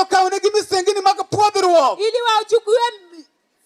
okawnegi misengini mag pwodhruok ili wachukue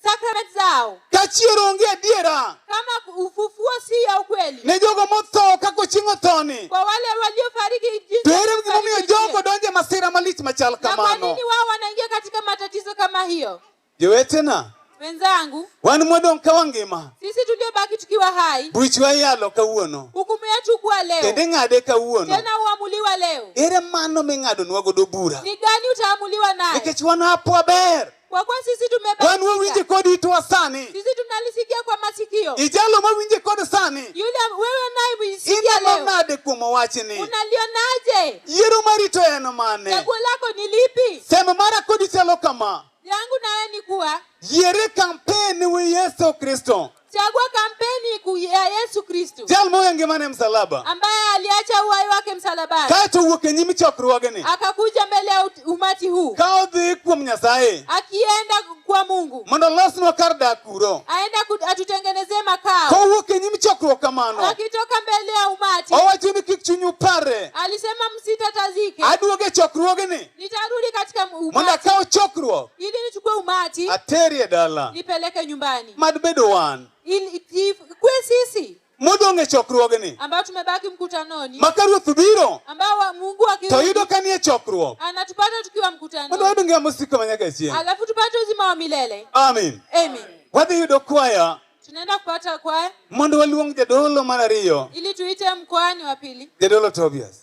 sakramenti zao kachier onge adiera kama ufufuo si ya ukweli ne jogo motho kako chieng' othoni kwa wale waliofariki jinsi to ere gimomiyo jogo donje masira malich machal kamano na kwa nini wao wanaingia katika matatizo kama hiyo Jowetena wenzangu, wan modong' ka wangima, sisi tuliobaki tukiwa hai, buchwa iyalo kawuono, hukumu yetu kuwa leo, kendo ing'ade kawuono, tena huamuliwa leo. Ere mano ming'adonwa godo bura? Ni gani utaamuliwa naye? Nikech wan hapo waber kwa kuwa sisi tumebadilika. Wan wawinje kod itwa sani. Sisi tunalisikia kwa masikio. Ijalo mawinje kod sani. Yule wewe unayemsikia leo. Ineno nade kuom wachni? Unalionaje? Yiero marito en mane? Chaguo lako ni lipi? Sema mara kodi chalo kama. Yangu nawe ni kuwa. Yiere kampeni wi Yesu Kristo. Chagua kampeni ya Yesu Kristo. Jal moya ngimane msalaba. Ambaye aliacha uhai wake msalabani. Kaeto wuok e nyim chokruogeni. Akakuja mbele ya umati huu. Ka odhi kuom Nyasaye. Akienda kwa Mungu. Mondo olosnwa kar dak kuro. Aenda atutengenezee makao. Kowuok e nyim chokruok kamano. Akitoka mbele ya umati. Owacho ni kik chunyu parre. Alisema msitatazike. Aduoge chokruogeni. Nitarudi katika mondo umati akaw chokruok ili nichukue umati aterie dala nipeleke nyumbani, mad bedo wan ili ikue sisi modong' e chokruogni ambao tumebaki mkutanoni, ma ka ruoth biro ambao wa- Mungu to akirudi yudo ka nie chokruok anatupata tukiwa mondo mkutanoni, wayud ngima mosiko ma nyaka chieng' alafu tupate uzima wa milele. amin Amen. wadhi yudo kwaya Tunaenda kupata kwaya mondo waluong jadolo mar ariyo ili tuite mkoani wa pili, jadolo tobias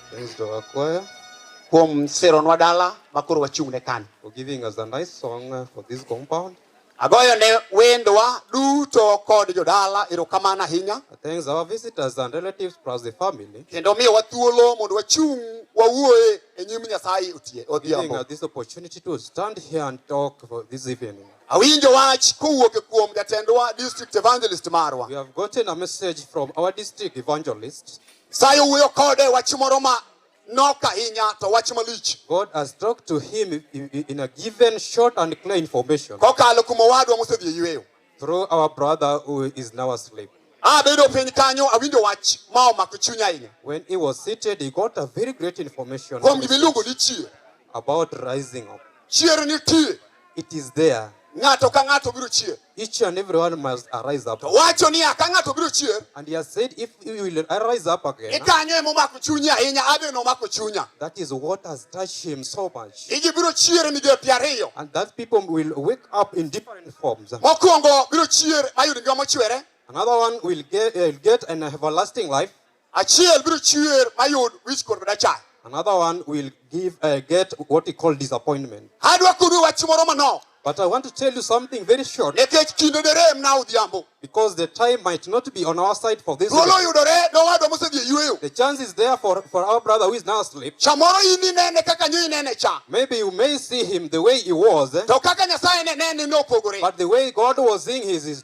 Thanks to our choir. Kuom seronwa dala ma koro wachung' ne kan. For giving us a nice song uh, for this compound. Agoyo ne wendwa duto kod jodala erokamano ahinya. Thanks our visitors and relatives plus the family. Kendo miyowa thuolo mondo wachung' wawuoye e nyim Nyasaye otie For giving odhiambo. us this opportunity to stand here and talk for this evening. Awinjo wach kowuok e kuom jatendwa district evangelist marwa. We have gotten a message from our district evangelist. Nyasaye owuoyo kode wach moro ma nok ahinya to wach malich. God has talked to him i- i- in a given short and clear information Kokalo kuom owadwa mosedhi e yueyo. through our brother who is now asleep. Abedo piny kanyo awinjo wach ma omako chunya ahinya. When he was seated, he got a very great information Kuom gima iluongo ni chier. about rising up. Chier nitie. It is there. Ng'ato ka ng'ato biro chier. Each and everyone must arise up. To wacho ni ka ng'ato biro chier. And he has said if you will arise up again. Ikanyo emo mako chunye ahinya, abe no mako chunya. That is what has touched him so much. Iji biro chier e migepe ariyo. And that people will wake up in different forms. Mokwongo biro chier mayud ngima mochwere. Another one will get, uh, get an everlasting life. Achiel biro chiwer mayud wich kuot madachayo. Another one will give uh, get what he called disappointment. Adwa kudu wach moro manok. But I want to tell you something very short. Nikech kinde derem na odhiambo. Because the time might not be on our side for this. Thuolo yudore ne owadwa mosedhi e yueyo. The chance is there for, for our brother who is now asleep. Chamoro in inene kaka nyo inene cha. Maybe you may see him the way he was. Eh? To kaka Nyasaye ne ne opogore. But the way God was seeing his, his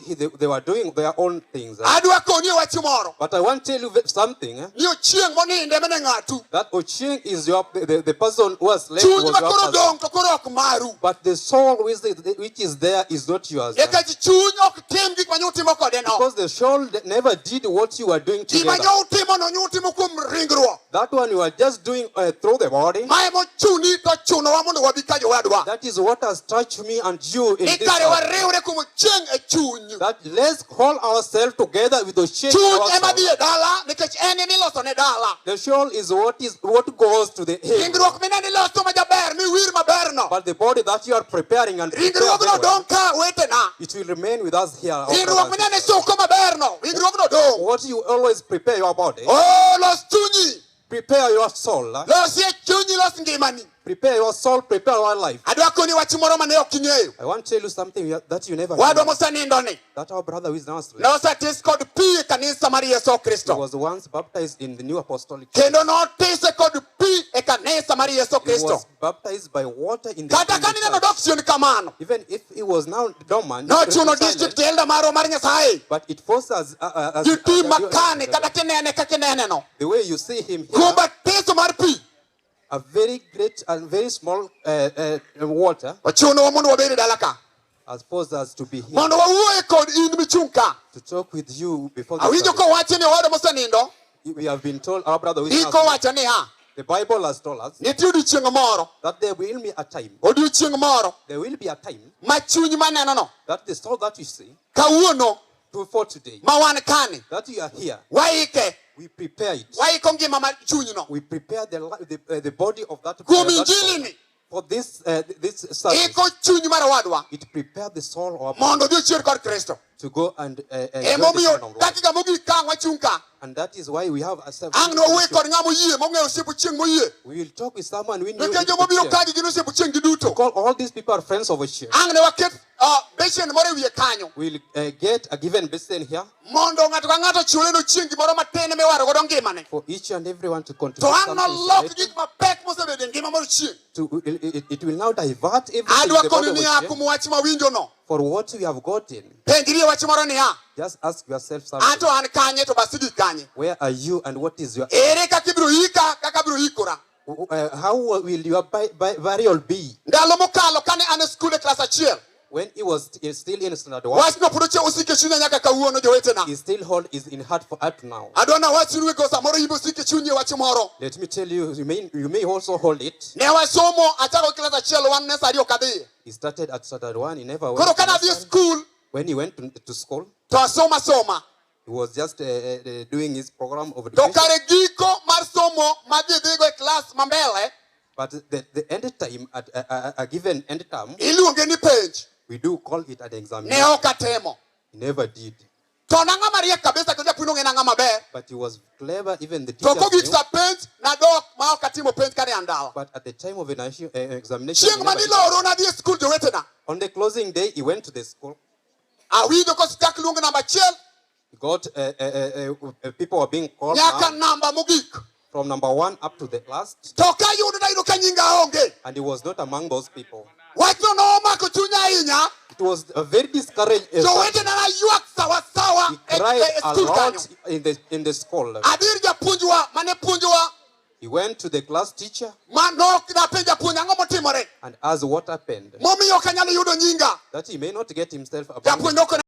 he- they, they were doing their own things. eh. adwa koni e wach moro But I want to tell you ve- something. eh, ni ochieng' moninde mene ng'atu That Ochieng is your the, the, the person who has left chuny was ma your koro person. dong' to koro ok maru But the soul which is, which is there is not yours. eh. nikech chuny ok tim gik ma nyo utimo kode no Because the soul that never did what you were doing gima together. nyo utimo no nyo utimo kuom ringruok That one you are just doing uh, through the body. Mae mochuni to chunowa mondo wabi ka jowadwa. That is what has touched me and you in this Ikare hour. wariwre kuom chieng' e chuny. That let's call ourselves together with the shame. Chuny ema dhi e dala nikech en ema iloso ne dala. The soul is what is what goes to the head. Ringruok mineno iloso ma jaber miwir maberno. But the body that you are preparing and preparing Ringruogno well. dong' ka wetena. It will remain with us here. Winjruok mineno e soko maberno, winjruogno dong'. What you always prepare your body. Oh, los chunyi. Prepare your soul. Losie chunyi, los ngimani. Prepare your soul, prepare your life. Adwa koni wach moro mane ok ing'eyo. I want to tell you something that you never Wadwa mosenindo ni. That our brother who is now asleep. Nosetis kod pi e kanisa mar Yesu Kristo. He was once baptized in the new apostolic. Kendo notis kod pi e kanisa mar Yesu Kristo. Kata ka neno dok chien kamano, nochuno district elder marwa mar Nyasaye gitim makani kata kinene ka kineneno kuom batiso mar pi a very great and very small uh, uh, water. Ochuno mondo wabed e dala ka. has posed us to be here. Mondo wawuoye kod in michung' ka. To talk with you before the Awinjo kowachi ni owadwa mosenindo. We have been told our brother with Iko wacho niya. The Bible has told us nitie odiechieng' moro that there will be a time odiechieng' moro there will be a time ma chuny manenono that the soul that you see kawuono to for today ma wan kani that you are here waike we prepare it waiko ngima mar chunyno we prepare the, the, uh, the body of that kuom injilini For this, uh, this service, iko chuny mar owadwa it prepared the soul of mondo odhi ochier kod kristo to go and uh, uh, join the emomiyo children of God. dakika mogik ka ang' wachung' ka And that is why we have a service. ang' nowuoye kod ng'ama oyie mong'eyo osiepo chieng' moyie We will talk with someone we knew. nikech joma obiro Because kagi gin osiepo chieng' gi duto all these people are friends of Oshie. ang' ne waket ah, beshen moro e wiye kanyo We will uh, get a given basin here. mondo ng'ato ka ng'ato chule no chieng' gimoro matin miwaro godo ngimane for each and everyone to contribute to ang' nolok gik mapek mosebedo e ngima mondo chieng' to it, it, it will now divert everything adwa koni niya kuom wach mawinjo no for what we have gotten penjri wach moro niya just ask yourself something ato an kanye to basigi kanye where are you and what is your ere kaka ibiro yika kaka abiro yikora Uh, how will your burial be? Ndalo mokalo kane an e skul e klas achiel. When he was st still in standard 1. Wachno pod ochiwo osike chunya nyaka kawuono jowetena. He still hold is in heart for up now. Adwa na wachnu wego samoro yimbe osike chunyi wach moro. Let me tell you you may you may also hold it. Ne wasomo achako klas achiel wan ne sari okadhi. He started at standard 1 he never went. Koro kana dhi school. When he went to, to school. To asoma soma. He was just uh, uh, doing his program of education. To kare giko mar somo ma ji dhigo e klas ma mbele. But the, the end time, at a, a, a given end term. Iluonge ni penj. We do call it an examination. Ne ok atemo. He never did. To nang'ama mariek kabisa kendo japuonj ong'e nang'ama ber. But he was clever even the teacher. To kogik sa penj nadok ma ok atimo penj kane an dala. But at the time of an eh, examination. Chieng' ma niloro nadhi e skul jowetena. On the closing day he went to the school. Awinjo ka osechak luong namba achiel. God, uh, uh, uh, uh, people are being called nyaka namba mogik from number one up to the last. To ka yudo nayudo ka nyinga onge. And he was not among those people. Wachno nomako chunya ahinya. It was a very discouraged. Jowetena naywak sawa sawa e, e, e skul kanyo. In the, in the school. Adir japuonjwa mane puonjwa He went to the class teacher ma nok napenja puonj ang'o motimore and asked what happened momiyo ok anyal yudo nyinga that he may not get himself abused. japuonj nokone